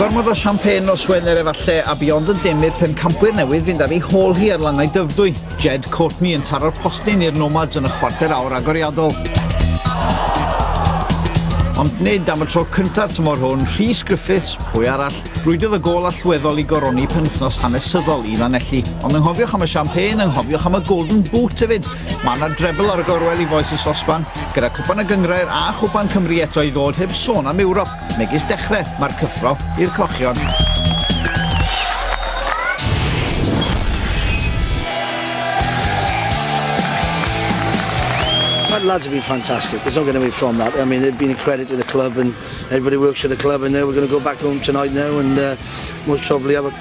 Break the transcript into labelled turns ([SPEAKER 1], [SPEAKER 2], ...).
[SPEAKER 1] Gormod o champagne o Swener efalle a Beyond yn dim i'r pencampwyr newydd fynd ar ei hôl hi ar lannau dyfrdwy. Jed Courtney yn taro'r postyn i'r Nomads yn y chwarter awr agoriadol. Ond nid am y tro cynta'r tymor hwn, Rhys Griffiths, pwy arall, rwydodd y gol allweddol i goroni penwthnos hanesyddol i Lanelli. Ond ynghofiwch am y champagne, ynghofiwch am y golden boot hefyd, Mae yna drebl ar y gorwel i Foes y Sosban, gyda Cwpan y Gynghrair a Chwpan Cymru eto i ddod heb sôn am Ewrop, megis dechrau mae'r cyffro i'r cochion.
[SPEAKER 2] that lads have been fantastic. There's not going to be from that. I mean, they've been a credit to the club and everybody works for the club and now we're going to go back home tonight now and uh, most probably have a